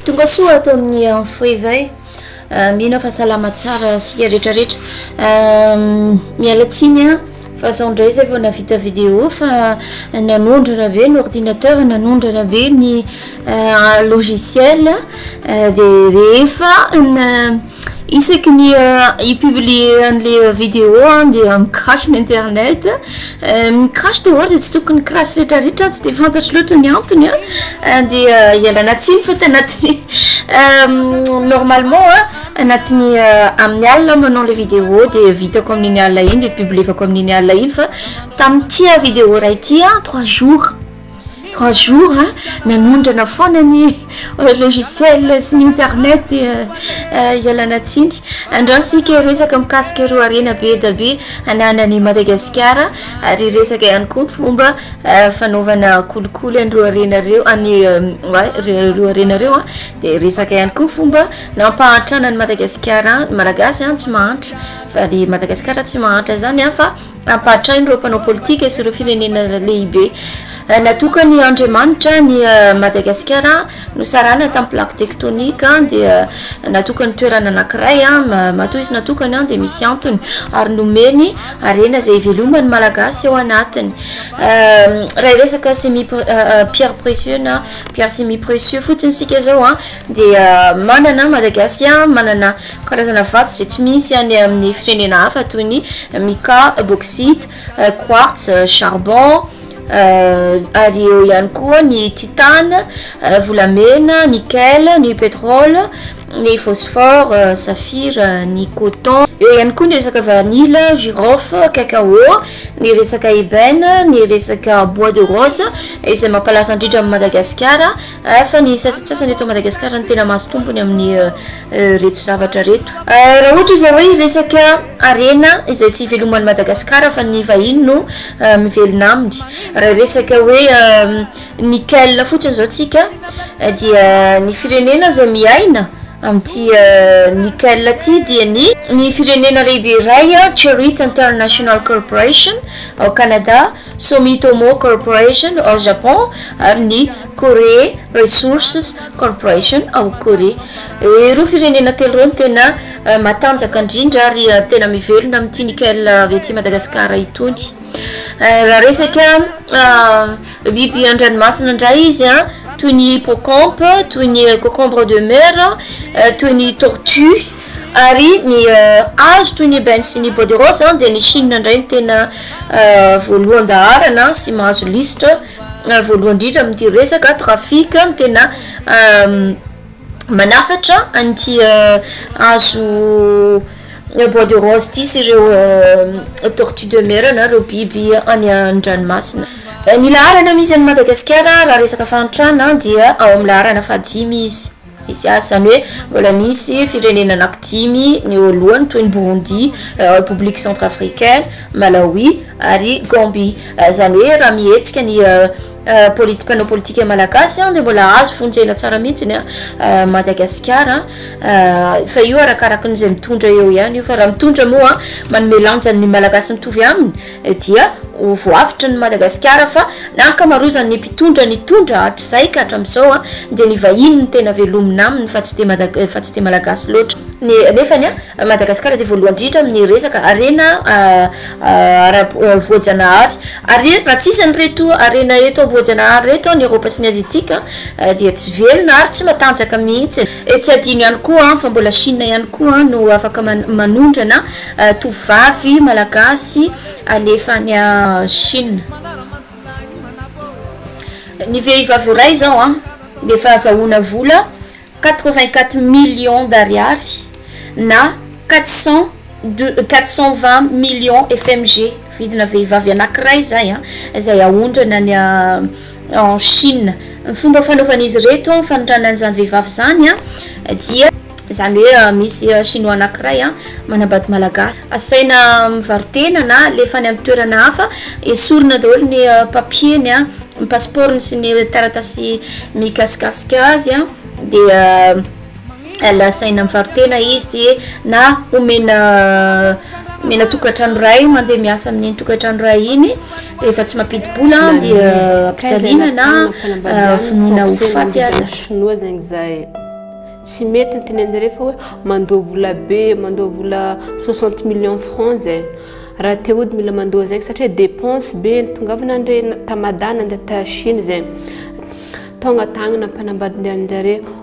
Tonga soa ato amin'ny info éveil euh, mino fa salama tsara sika rehetrarehetra euh, miala tsiny a fa zao ndray zay vao navita vidéo fa nanondrana be ny ordinateur nanondrana be ny euh, logiciel de rehefa Isaky ny i-publier an'le vidéo aho dia mi-crash ny internet mi-crash dia ohatra tsy tokony crash retraretra tsy dia fantatro loatra ny antony an dia ialana tsiny fa tanaty normalement anatin'ny amin'ny alina manao le vidéo dia vitako amin'iny alina iny dia publievako amin'iny alina iny fa tamin'ity vidéo iray ity an trois jours Trois jours a, nanondrana foana ny logiciel sy ny internet dia ialana tsiny. Andao isika hiresaka mikasika ireo harena be dia be ananan'i Madagasikara ary hiresaka ihany koa fomba fanaovana kolikoly an'ireo harena ireo an'i ireo harena ireo a, dia hiresaka ihany koa fomba nampahantrana an'i Madagasikara, ny Malagasy a tsy mahantra fa ny Madagasikara tsy mahantra izany a fa. Ampahatrain' ireo mpanao politika sy ireo firenena lehibe natokan' Andriamanitra ny Madagasikara nosarahana tamin'ny plaque tectonique dia natokany toerana anankiray matoa izy natokany dia misy antony ary nomeny harena izay hiveloman'ny Malagasy ao anatiny. Raha hiresaka semi pierre precieux na pierre semi precieux fotsiny isika izao dia manana Madagasia manana Karazana vato izay tsy misy any amin'ny firenena hafa toy ny mica, bauxite, quartz, charbon, ary eo ihany koa ny titane, volamena, nickel, ny pétrole, ny phosphore, saphir, ny coton. Eo ihany koa ny resaka vanille, girofle, cacao, ny resaka ébène, ny resaka bois de rose izay mampalaza indrindra an'i Madagasikara fa ny sasantsasany eto Madagasikara no tena mahazo tombony amin'ny reto zavatra reto. Raha ohatra izay hoe hiresaka harena izay tsy iveloman'i Madagasikara fa ny vahiny no mivelona aminy. Raha hiresaka hoe nickel fotsiny izao tsika dia ny firenena izay miaina amin'ity nickel ity dia ny. Ny firenena lehibe iray Chariot International Corporation ao Canada Sumitomo Corporation ao Japon ary ny Korea Resources Corporation ao Korea. Ireo firenena telo ireo no tena matanjaka indrindra ary tena mivelona amin'ity nickel avy aty Madagasikara itony. Raha resaka biby an-dranomasina indray izy an, toy ny hippocampe, toy ny cocombre de mer, toy ny tortue. Ary ny hazo toy ny ebène sy ny bois de rose dia ny Chine indray no tena voalohan-daharana sy mahazo lisitra voalohany indrindra amin'ity resaka trafic no tena manafatra an'ity hazo bois de rose ity sy ireo tortue de mer na ireo biby any an-dranomasina. Ny laharana misy an'i Madagasikara raha resaka fahantrana dia ao amin'ny laharana fahadimy izy. Misy azy, izany hoe mbola misy firenena anaky dimy ny eo alohany toy ny Burundi, Repoblika Centrafricaine, Malawi ary Gambie. Izany hoe raha mihetsika ny politi mpanao politika malagasy dia mbola azo vonjena tsara mihitsy ny Madagasikara fa io arakaraky ny izay mitondra eo ihany io fa raha mitondra moa manome lanjany ny Malagasy mitovy aminy dia ho voavotry ny Madagasikara fa ny ankamaroazan' ny mpitondra nitondra hatrizay ka hatramin'izao dia ny vahiny no tena velomina aminy fa tsy dia fa tsy dia Malagasy loatra. Nefa ny Madagasikara dia voalohany indrindra amin' ny resaka harena ara voajanahary ary raha tsy isan' ireto harena eto voajanahary ireto ny Eorôpa sy ny Aziatika dia tsy velona ary tsy matanjaka mihitsy. Tsy adino ihany koa fa mbola Shina ihany koa no afaka manondrana Tovovavy malagasy alefa any Chine. Ny vehivavy iray izao an, dia efa azahoana vola quatre vingt quatre millions d'ariary na quatre cent de quatre cent vingt millions FMG, vidina vehivavy anankiray izay an, izay aondrana any. en Chine. Ny fomba fanaovan'izy ireto an fanotrana an'izany vehivavy izany an dia izany hoe misy chinois anankiray an manambady malagasy asaina mivaro-tena na alefa any amin'ny toerana hafa esorina daholo ny papier-ny an ny passeport-ny sy ny taratasy mikasikasika azy an dia Lazaina mivaro-tena izy dia na omena omena tokantrano iray mandeha miasa amin'iny tokantrano iray iny rehefa tsy mampidi-bola dia ampijaliana na vonoina ho faty aza. Shinoa zegny zay tsy mety ny tenen'jareo fa hoe mandoa vola be mandoa vola soixante millions francs zay raha te hody mila mandoa zegny satria depense be nitongavana andre ta Mada nandeha ta Shina zegny taogna tagnana ampanambady ny anjareo.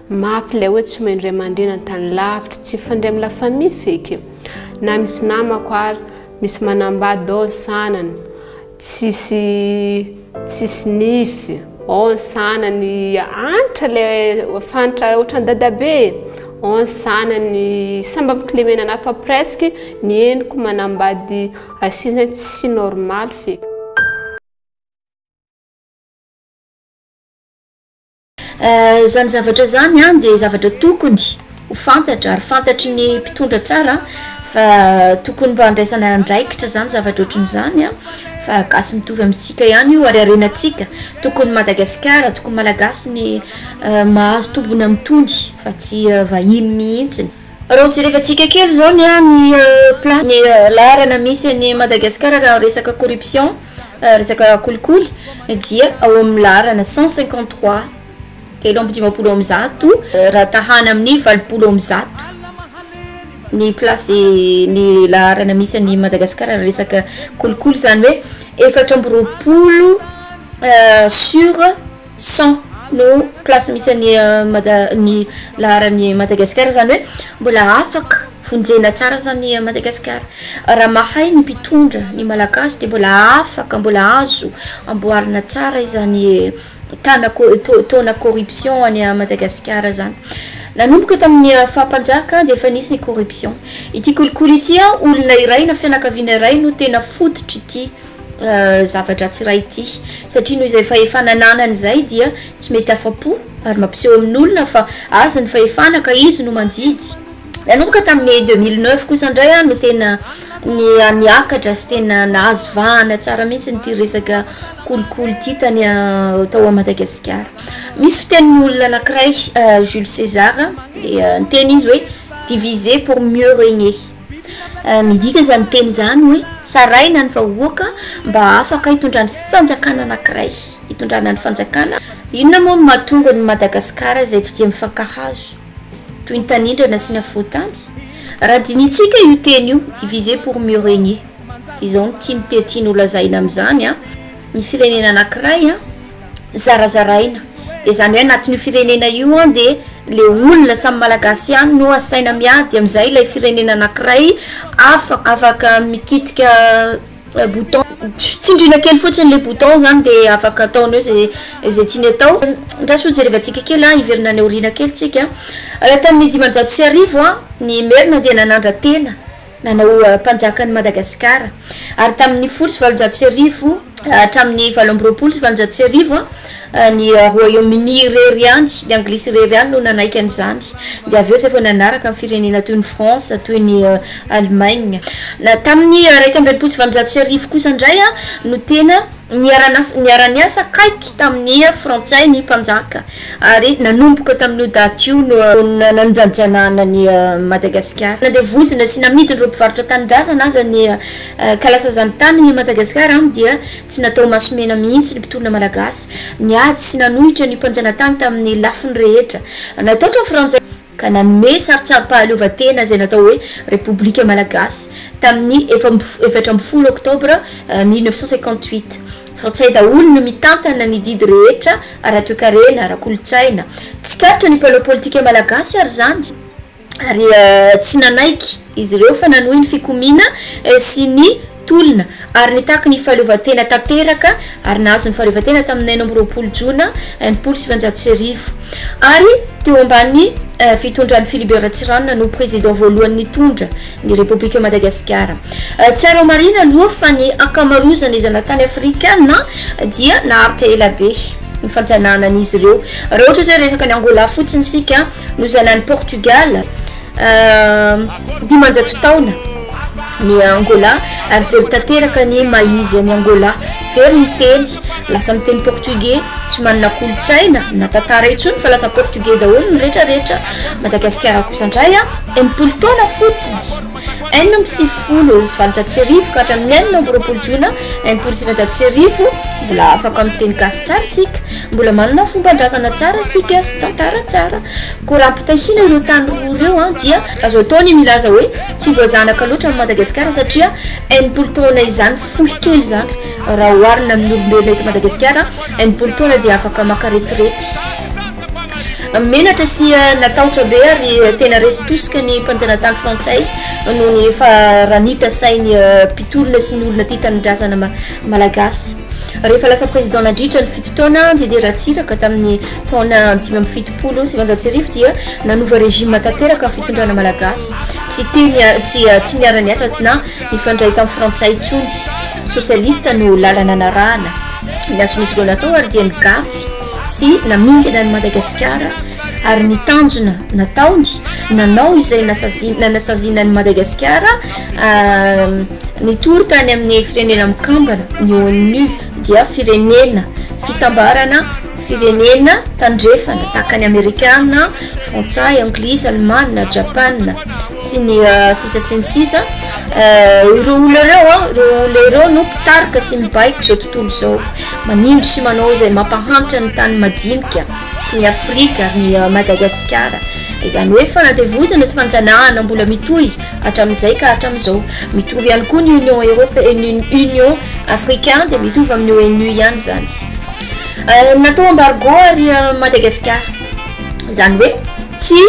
Mafy ilay hoe tsy maindray mandeha na tany lavitra, tsy fandray amin'ny la famille feky. Na misy namako ary misy manambady dao ny sanany, tsisy tsisy nify, ao ny sanany antra ilay fantra ohatran'ny dadabe e, ao ny sanany samy ampikilemena anah fa presque ny henoko manambady asia zany tsy normal feky. Izany zavatra izany dia zavatra tokony ho fantatra ary fantatry ny mpitondra tsara fa tokony mba andraisana andraikitra izany zavatra ohatran'izany an, fa gasy mitovy amintsika ihany io ary harenantsika, tokony Madagasikara, tokony Malagasy ny mahazo tombony amin'itony fa tsy vahiny mihintsiny. Raha jerevantsika kely izao ny an ny plan ny laharana misy an'i Madagasikara raha resaka corruption. Resaka kolikoly dia ao amin'ny laharana cent cinquante trois, telo amby dimampolo amby zato, raha tahana amin'ny valopolo amby zato ny place ny laharana misy an'i Madagasikara raha resaka kolikoly, izany hoe efatra amby roapolo sur. Cent no place misy an'i Mada- ny laharan'i Madagasikara, zany hoe mbola afaka vonjena tsara zany Madagasikara, raha mahay ny mpitondra ny malagasy de mbola afaka mbola azo amboarina tsara izany tana ko- tao- taona corruption any Madagasikara zany, nanomboka tamin'ny faha mpanjaka de efa nisy ny corruption, ity kolikoly ity an olona iray na fianakaviana iray no tena fototr'ity. zava-dratsy iray ity, satria noho izay fahefana ananany izay dia tsy mety afa-po ary mampiseho amin'olona fa azy ny fahefana ka izy no mandidy. Nanomboka tamin'ny deux mille neuf kosa indray aho no tena niakatra sy tena nahazo vahana tsara mihitsy ity resaka kolikoly ity tany tao à Madagasikara. Misy fitenin'ny olona anankiray Jules César dia niteny izy hoe diviser pour mieux régner. Midika izany teny izany hoe sarahina ny vahoaka mba hafaka hitondra ny fanjakana anankiray, hitondrana ny fanjakana. Inona moa no mahatonga ny Madagasikara izay tsy dia mifankahazo toy ny tanindrana sy ny afovoan-tany? Raha dinintsika io teny io, diviser pour mieux regner, izao no tiany te tiany ho lazaina amin'izany an, ny firenena anankiray an, zarazaraina de zany hoe anatin'io firenena io an de le olona samy malagasy ihany no asaina miady amin'izay ilay firenena anakiray afa afaka mikitika bouton tsindriana kely fotsiny le bouton zany de afaka ataony hoe zay zay tiany atao andraso ho jerevantsika kely an hiverina any aoriana kely tsika raha tamin'ny dimanjato sy arivo an ny merina dia nanandra-tena nanao mpanjaka an'i Madagasikara. Ary tamin'ny folo sy valonjato sy arivo hatramin'ny valo amby roapolo sy valonjato sy arivo, ny Royaume-Uni irery ihany, ny Anglisy irery ihany no nanaiky an'izany. Dia avy eo izay vao nanaraka ny firenena toy ny France, toy ny Allemagne. Tamin'ny iraika amby enimpolo sy valonjato sy arivo kosa indray no tena. Niara-niasa akaiky tamin'ny Frantsay ny mpanjaka ary nanomboka tamin'io daty io no nandanjanana an'i Madagasikara. Nandevozina sy namidin'ireo mpivarotra tanindrazana aza ny kalasazan'ny tanin' i Madagasikara aminy dia tsy natao masomena mihitsy ny mpitolona malagasy. Niady sy nanohitra ny mpanjanatany tamin'ny lafiny rehetra. Nataotran'ny Frantsay. ka nanome sarintsarim-pahaleovantena izay natao hoe Repoblika Malagasy tamin'ny efatra ambin'ny folo Oktobra mille neuf cent cinquante-huit. Frantsay daholo no mitantana ny didy rehetra ara-toekarena, ara-kolontsaina. Tsikaritra ny mpanao politika malagasy ary izany ary tsy nanaiky. izy ireo fa nanohy ny fikomiana sy ny tolona ary nitaky ny fahaleovantena tanteraka ary nahazo ny fahaleovantena tamin'ny enina amby roapolo jona enimpolo sy sivinjato sy arivo ary teo ambany fitondran'i Philibert Ratsiranona no président voalohany nitondra ny République Madagasikara. Tsara homarihina aloha fa ny ankamarozan'ny zanatany afrikana dia naharitra ela be ny fanjanahana an'izy ireo. Raha ohatra izao resaka an'i Angola fotsiny isika nozanahin'i Portugal, Dimanjato taona ny Angola ary very tanteraka ny maha izy an'i Angola. Very ny teny, lasa miteny portugais, tsy manana kolontsaina na tantara intsony fa lasa portugais daholo ny retraretra. Madagasikara kosa indray a, enimpolo taona fotsiny, enina amby sivifolo sy valonjato sy arivo ka hatramin'ny enina amby roapolo jona enimpolo sy sivinjato sy arivo, mbola afaka miteny gasy tsara isika. Mbola manana fomban-drazana tsara isika sy tantara tsara. Koa raha ampitahiana ireo tany roa ireo dia. Azo atao ny milaza hoe tsy voazanaka loatra ny Madagasikara satria enimpolo taona izany fohy kely izany raha oharina amin'ny olombelona eto Madagasikara. Enimpolo taona dia afaka maka retirety. Menatra sy natahotra be ary tena resy tosika ny mpanjanatany frantsay noho ny efa ranita sain'ny mpitolona sy ny olona tia tanindrazana malagasy. Rehefa lasa président nandritra ny fito taona Didier Ratsiraka tamin'ny taona dimy amby fitopolo sy sivinjato sy arivo dia nanova régime tanteraka ny fitondrana malagasy. Tsy teny tsy tsy niara-niasa na nifandray tamin'ny frantsay intsony. Socialiste no lalana narahana. Ny azonisy ireo natao ary dia ny gafy sy namingana an'i Madagasikara ary ny tanjona nataony nanao izay nasaziana nasaziana an'i Madagasikara. Nitory tany amin'ny firenena mikambana ny ONU dia firenena fitambarana firenena tandrefana tahaka ny Amerikana, Frantsay, Anglisy, Alemana, Japana sy ny sisa sy ny sisa ireo olona ireo a ireo olona ireo no mpitarika sy mibaiko izao tontolo izao manindry sy manao izay mampahantra ny tany madinika toy ny Afrika, ny Madagasikara, izany hoe fanandevozana sy fanjanahana mbola mitohy. hatramin'izay ka hatramin'izao. Mitovy ihany koa ny Union Europe, Union Africain dia mitovy amin'ny ONU ihany izany. Natao embargo ary Madagasikara. Izany hoe tsy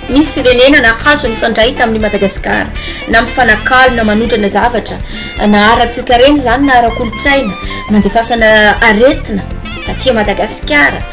misy firenena nahazo nifandray tamin'i Madagasikara na mifanakalo na manondrana zavatra na ara-toekarena izany na ara-kolontsaina nandefasana aretina taty Madagasikara.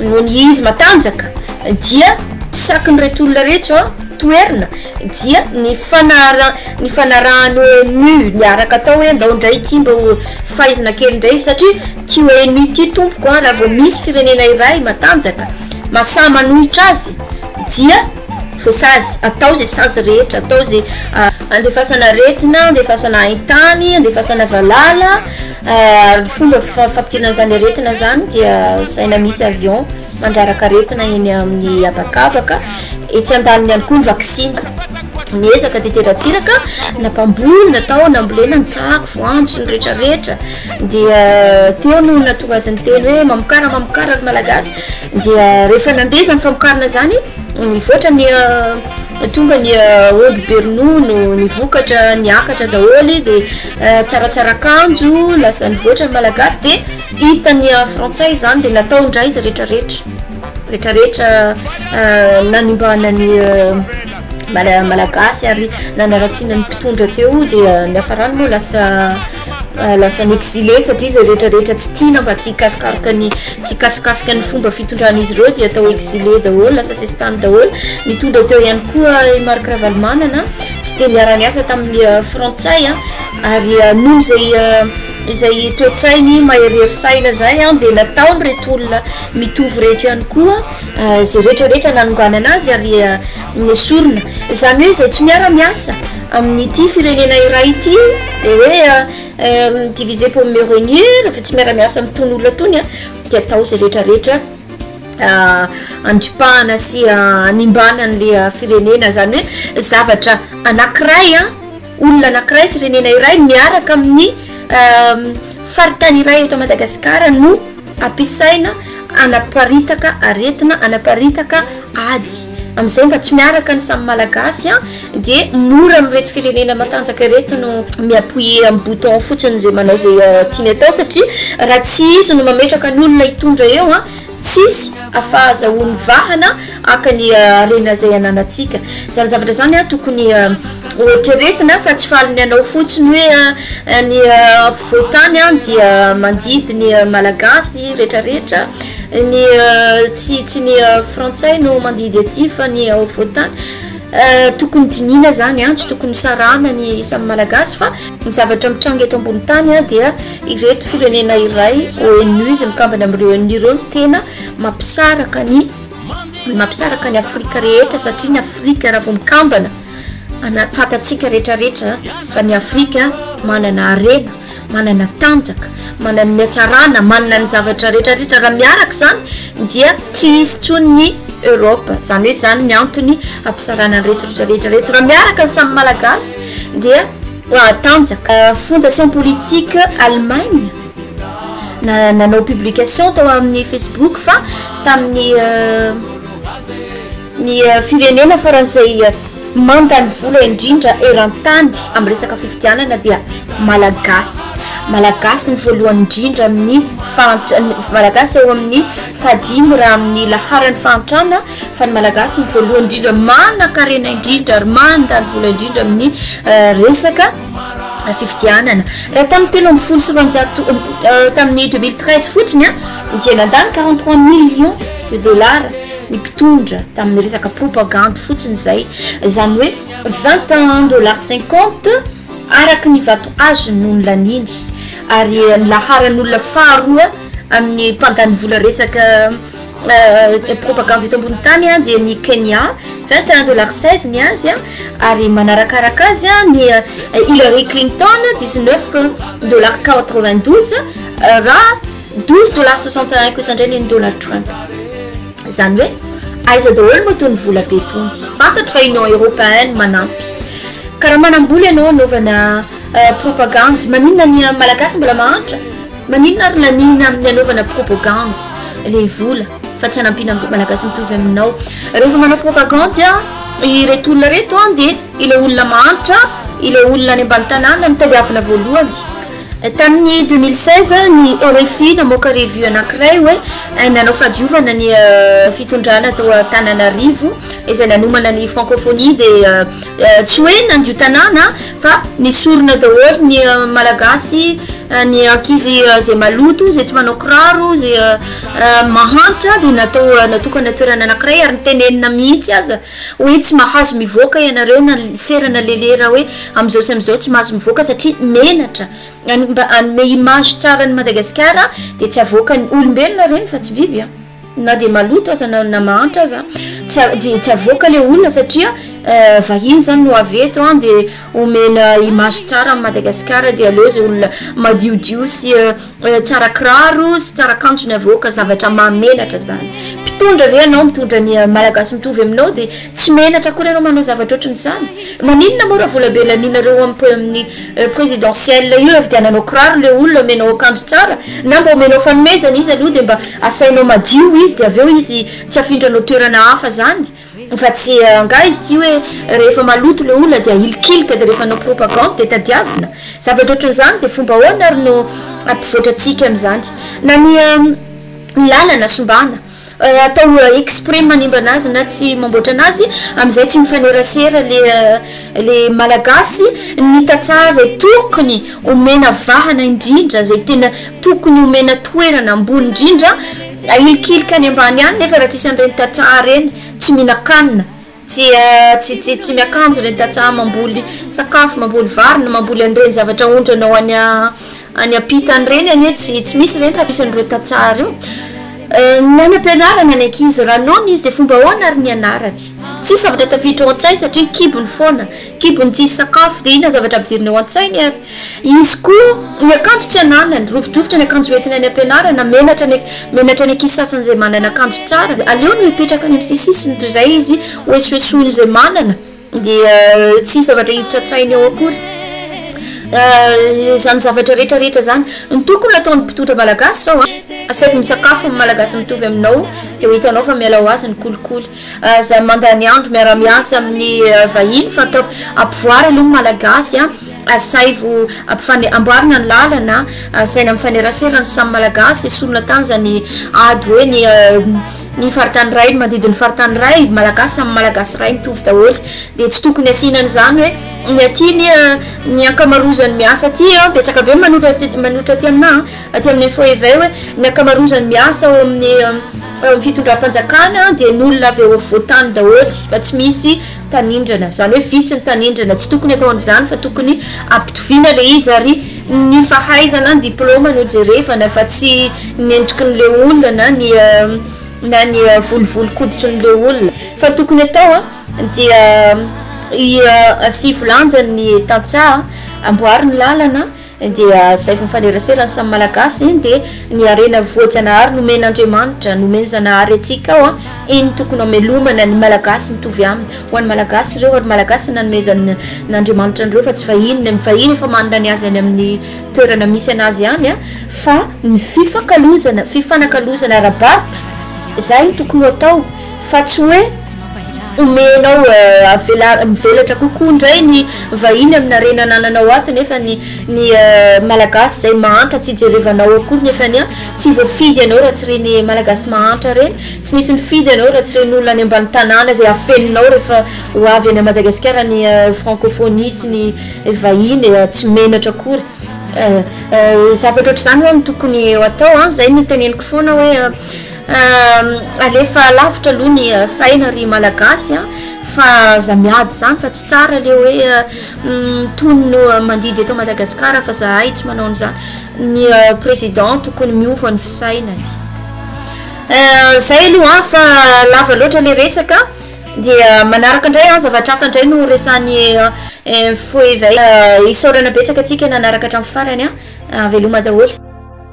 Noho ny izy matanjaka dia tsy sakin'ireto olona reto toerina dia ny fanaraha ny fanarahan'ny ONU niaraka atao hoe ndao ndray ity mba ho faizina kely ndray satria ty ONU ity tompoko an raha vao misy firenena iray matanjaka masaha manohitra azy dia voasazy atao ze sazy rehetra atao ze andefasana aretina andefasana haintany andefasana valala Ary ny fomba fampidirana izany aretina izany dia asaina misy avion mandraraka aretina eny amin'ny habakabaka, etsy an-daniny ihany koa ny vaksiny. Niezaka tetezka ratsiraka nampamboly natao nambolena ny tsako, voanjo sy ny retraretra dia teo no nahatonga azy niteny hoe mamokara mamokara ry malagasy dia rehefa nandeha izany famokarana izany nivoatra ny tonga ny omby be ronono ny vokatra niakatra daholo dia Tsaratsara akanjo lasa nivoatra ny malagasy dia hita ny an frantsay izany dia natao indray izy retraretra retraretra nanimbana ny mala- malagasy ary nanaratsiana ny mpitondra teo dia niafarany moa lasa lasa ny exilé satria izay retraretra tsy tiana mba tsy hikasokasoka ny tsy hikasokasoka ny fomba fitondran'izy ireo dia atao exilé daholo lasa sesitany daholo nitondra teo ihany koa i Marc Ravalomanana Tsy dia niara-niasa tamin'ny Frantsay ary noho izay izay toe-tsainy maherihery saina izay dia nataon'ireto olona mitovy ireto ihany koa izay rehetra rehetra nanonganana azy ary nesorina. Izany hoe izay tsy miara-miasa amin'ity firenena iray ity dia hoe diviser pour mieux regner, rehefa tsy miara-miasa amin'itony olona itony dia atao izay rehetra rehetra andripahana sy animbana an'le firenena zany hoe zavatra anakiray a olona anakiray firenena iray miaraka amin'ny faritany iray eto madagasikara no ampisaina anaparitaka aretina anaparitaka ady am'izay mba tsy miaraka ny samy malagasy a Dia mora amin'ireto firenena matanjaka ireto no mi-appuyer amin'ny bouton fotsiny izay manao izay tiany atao satria raha tsy izy no mametraka ny olona hitondra eo an, tsisy afahazahoany vahana haka ny harena izay ananantsika. Izany zavatra izany an tokony hoeritreretina fa tsy faly ny hanao fotsiny hoe an ny ampovoan-tany an dia mandidy ny malagasy retraretra, ny tsy tsy ny frantsay no mandidy aty fa ny ao afovoan-tany. Tokony dinihina izany an, tsy tokony sarahana ny isan'ny Malagasy fa ny zavatra mitranga eto ambony tany an dia ireto firenena iray ONU izay mikambana amin'ireo ONU ireo no tena mampisaraka ny mampisaraka ny Afrika rehetra satria ny Afrika raha vao mikambana ana- fantatsika rehetrarehetra fa ny Afrika manana harena. manana tanjaka, manana ny hatsarana, manana ny zavatra retraretra, raha miaraka izany dia tsy hisy intsony ny Europe, izany hoe izany ny antony hampisarana ireto retraretra ireto, raha miaraka ny samy Malagasy dia hahatanjaka. Fondation politique Allemagne nanao publication tao amin'ny Facebook fa tamin'ny Ny firenena farany izay mandany vola indrindra eran-tany amin'ny resaka fifidianana dia Malagasy. Malagasy ny voalohany indrindra amin'ny fahantra- ny Malagasy eo amin'ny fahadimy raha amin'ny laharan'ny fahantrana fa ny Malagasy no voalohany indrindra manan-karena indrindra ary mandany vola indrindra amin'ny resaka fifidianana. Raha tamin'ny telo ambin'ny folo sy roanjato tamin'ny deux mille treize fotsiny dia nandany quarante trois millions de dollars. ny mpitondra tamin'ny resaka propagandy fotsiny izay izany hoe vingt et un dollars cinquante araka ny vato azony no nilaniany ary ny laharan'olona faharoa amin'ny mpandany vola resaka euh, propagandy eto ambony tany a dia ny Kenya vingt et un dollars seize ny azy a ary manarakaraka azy a ny euh, Hillary Clinton dix neuf dollars quatre vingt douze euh, raha Douze dollars soixante un kosa indray neny dollar trump zany hoe aiza daholo moa tony vola be tony fantatro fa union europeen no manampy ka raha manambola ianao anaovana propagandy maninona ny malagasy mbola mahantra maninona ary laniana amin'ny anaovana propagandy le vola fa tsy hanampiana malagasy mitovy aminao rehefa manao propagandy a ireto olona reto a dia ilay olona mahantra ilay olona any ambany tanàna no tadiavina voalohany Tamin'ny deux mille seize, ny RFI namoaka revue anankiray hoe nanao fahadiovana ny fitondrana tao Antananarivo izay nanomana ny francophonie dia tsy hoe nandio tanàna fa nesorina daholo ny Malagasy, ny ankizy izay maloto, izay tsy manao kiraro, izay mahantra dia natao natokana toerana anankiray ary nitenenina mihitsy aza Hoe tsy mahazo mivoaka ianareo na ny ferana lelera hoe amin'izao sy amin'izao tsy mahazo mivoaka satria menatra any mba hanome image tsara an'i Madagasikara dia tsy avoakan'ny, olombelona ireny fa tsy biby an! na dia maloto aza na na mahantra aza an! dia tsy avoaka ilay olona satria vahiny izany no avy eto an! dia omena image tsara an'i Madagasikara dia aleo izay olona madiodio sy Tsara kiraro sy tsara kanjo ny avoaka zavatra mahamenatra zany. Mpitondra ve ianao mitondra ny Malagasy mitovy aminao dia tsy menatra akory ianao manao zavatra ohatrany izany? Maninona moa raha vola be laninareo amin'ny présidentielle io avy dia nanao kiraro ilay olona omenao akanjo tsara na mba omenao fanomezana izy aloha dia mba asainao madio izy dia avy eo izy tsy afindranao toerana hafa zany Fa tsy angaha izy ity hoe rehefa maloto le olona dia ahilikilika dia rehefa hanao propagande dia tadiavina? Zavatra ohatran'izany dia fomba ahoana ary no hampivoatra antsika amin'izany? Na ny lalana sombana atao exprès manimba anazy na tsy mamboatra anazy amin'izay tsy mifanerasera le le malagasy ny tantsaha izay tokony omena vahana indrindra izay tena tokony omena toerana ambony indrindra Ahilikilika any ambany any nefa raha tsisy an'ireny tantsaha ireny tsy mihinan-kanina, tsy tsy tsy tsy miakanjo ireny tantsaha mamboly sakafo, mamboly vary na mamboly an'ireny zavatra aondrana ho any any am-pitany ireny anie tsy tsy misy ireny raha tsisy an'ireo tantsaha ireo. Ny any am-pianarana ny ankizy raha noana izy dia fomba ahoana ary ny anarany? Tsisy zavatra tafiditra ao an-tsainy satria kibony foana. Kibony tsisy sakafo dia inona zavatra ampidiriny ao an-tsainy ary izy koa ny akanjo tsy ananany, rovidrovitra ny akanjo hoentina any am-pianarana, menatra ny menatra ny ankizy sasany izay manana akanjo tsara dia aleony mipetraka any amin'ny sisisisiny toy izay izy hoesoesoiny izay manana dia tsisy zavatra hiditra an-tsainy ao akory izany zavatra rehetra rehetra izany ny tokony ataon'ny mpitondra malagasy izao an, asaiko misakafo amin'ny malagasy mitovy aminao dia ho hitanao fa miala ho azy ny kolikoly. Aza mandany andro miara-miasa amin'ny vahiny fa ataovy ampivoary aloha ny Malagasy a! Asaivo ampifane- amboarina ny lalana, asaina mifanerasera ny samy Malagasy, esorina tany izany ady hoe ny ny faritany iray no mandidy ny faritany iray, Malagasy samy Malagasy iray mitovy daholo, dia tsy tokony asiana an'izany hoe ny aty anie ny ankamarozan'ny miasa aty an, betsaka be manotra aty manotra aty aminà an. Aty amin'ny info iv hoe ny ankamarozan'ny miasa ao amin'ny ao amin'ny fitondram-panjakana dia ny olona avy ao afovoan-tany daholo fa tsy misy tanindrana izany hoe vitsy ny tanindrana tsy tokony atao an'izany fa tokony ampitoviana ilay izy ary ny fahaizana ny diplaoma no jerevana fa tsy ny entokin'ilay olona na ny na ny volovolon-koditrin'ilay olona fa tokony atao dia i asivo lanjany ny tantsaha amboary ny lalana dia izay fahafanerasera ny samy malagasy dia ny harena voajanahary nomen'Andriamanitra nomen'i Zanahary antsika ao iny tokony hamelomana ny malagasy mitovy aminy ho an'ny malagasy ireo ary malagasy nanomezan'ny n'Andriamanitra an'ireo fa tsy vahiny ny vahiny efa manana ny azy any amin'ny toerana misy anazy any a fa ny fifankalozana fifanakalozana ara-barotra izay ny tokony ho atao fa tsy hoe omenao avelary mivelatra kokoa indray ny vahiny amina harena anananao ato nefa ny ny malagasy izay mahantra tsy hijerevanao akory nefa ny a tsy voafidy ianao raha tsy ireny malagasy mahantra ireny tsy misy mifidy anao raha tsy ireny olona any ambany tanàna izay afeninao rehefa ho avy any madagasikara ny frankôfônia sy ny vahiny tsy menatra akory zavatra ohatr'izany izany no tokony ho atao an izay no teneniko foana hoe Aah alefa lavitra aloha ny saina ry malagasy a fa za miady izany fa tsy tsara le hoe tony no mandidy eto Madagascar fa zahay tsy manao an'izany ny président tokony miova ny fisainany zay aloha a fa lava loatra le resaka dia manaraka indray an zavatra hafa indray no resahan'ny info eveil isaorana betsaka antsika nanaraka hatramin'ny farany a veloma daholo.